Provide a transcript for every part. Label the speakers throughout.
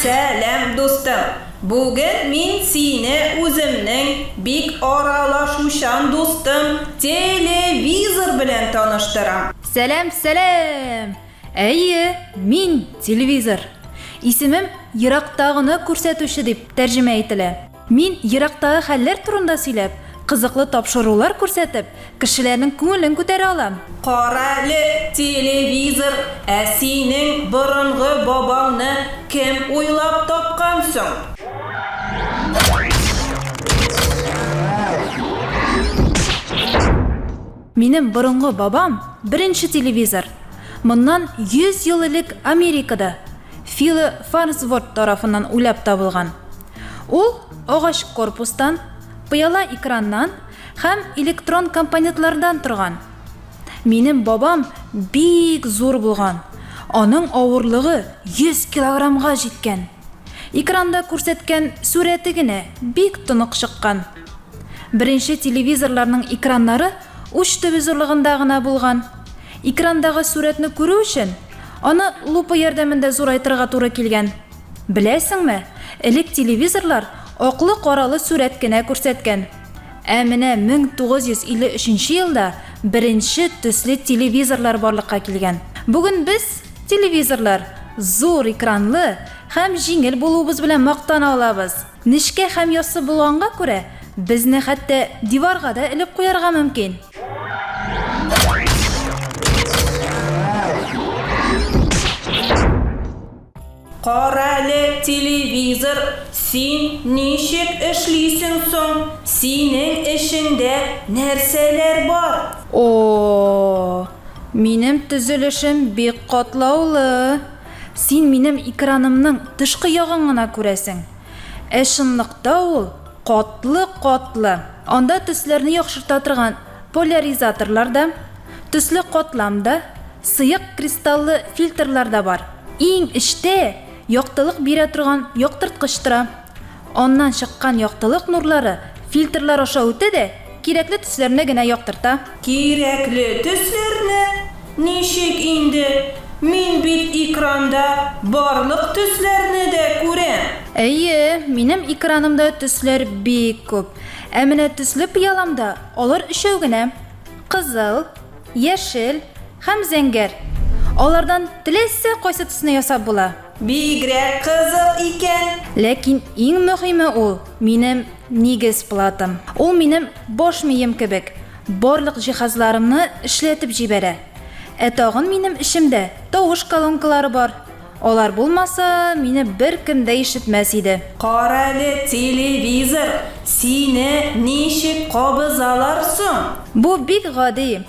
Speaker 1: Сәлам, дустым! Бүген мин сине үземнең бик аралашучан дустым Телевизор белән таныштырам. Сәлам, сәлам! Әйе, мин Телевизор. Исемем Ерактагыны күрсәтүче дип тәрҗемә ителә. Мин, ерактагы хәлләр турында сөйләп, кызыклы тапшырулар күрсәтеп, кешеләрнең күңелен күтәрә алам. Карале, телевизор, ә синең борынгы бабаңны кем уйлап тапкан соң? Минем борынгы бабам, беренче телевизор, моннан 100 ел элек Америкада, Фило Фарнсворт тарафыннан уйлап табылган. Ул агач корпустан, пыяла экраннан һәм электрон компонентлардан торган. Минем бабам бик зур булган, аның авырлыгы 100 килограммга җиткән. Экранда күрсәткән сурәте генә бик тонык чыккан. Беренче телевизорларның экраннары уч төбе зурлыгында гына булган. Экрандагы сурәтне күрү өчен, аны лупа ярдәмендә зурайтырга туры килгән. Беләсеңме, элек телевизорлар аклы-каралы сурәт кенә күрсәткән. Ә менә 1953 елда беренче төсле телевизорлар барлыкка килгән. Бүген без, телевизорлар, зур экранлы һәм җиңел булуыбыз белән мактана алабыз. Нечкә һәм яссы булганга күрә, безне хәтта диварга да элеп куярга мөмкин. Карале, телевизор, син ничек эшлисең соң, синең эчеңдә нәрсәләр бар? О-о-о, минем төзелешем бик катлаулы. Син минем экранымның тышкы ягын гына күрәсең. Ә чынлыкта ул катлы-катлы. Анда төсләрне яхшырта торган. Поляризаторлар да, төсле катлам да, сыек кристаллы фильтрлар да бар. Иң эчтә яктылык бирә торган яктырткыч тора. Аннан чыккан яктылык нурлары фильтрлар аша үтә дә кирәкле төсләрне генә яктырта. Кирәкле төсләрне? Ничек инде? Мин бит экранда барлык төсләрне дә күрәм! Әйе, минем экранымда төсләр бик күп. Ә менә төсле пыяламда алар өчәү генә, кызыл, яшел һәм зәңгәр. Алардан теләсә кайсы төсне ясап була. Бигрәк кызык икән! Ләкин иң мөһиме ул, минем нигез платам. Ул минем баш мием кебек, барлык җиһазларымны эшләтеп җибәрә. Ә тагын минем эчемдә тавыш колонкалары бар. Алар булмаса, мине беркем дә ишетмәс иде. Карале, телевизор, сине ничек кабызалар соң? Бу бик гади.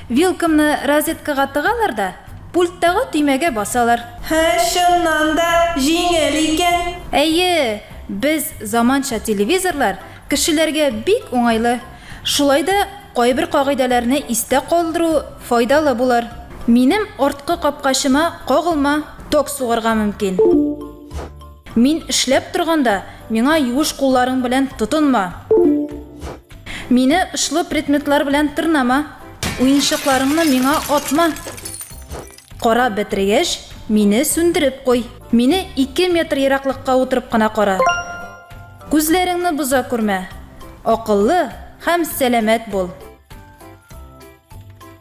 Speaker 1: Вилкамны розеткага тыгалар да, пульттагы төймәгә басалар. Һе, чыннан да җиңел икән. Әйе, без заманча телевизорлар Кешеләргә бик уңайлы. Шулай да кайбер кагыйдәләрне истә калдыру файдалы булыр. Минем арткы капкачыма кагылма ток сугарга мөмкин. Мин эшләп торганда миңа юеш кулларың белән тотынма. Мине очлы предметлар белән тырнама. Уенчыкларыңны миңа атма. Карап бетергәч, мине сүндереп куй. Мине ике метр ераклыкка утырып кына кара. Күзләреңне боза күрмә. Акыллы һәм сәламәт бул.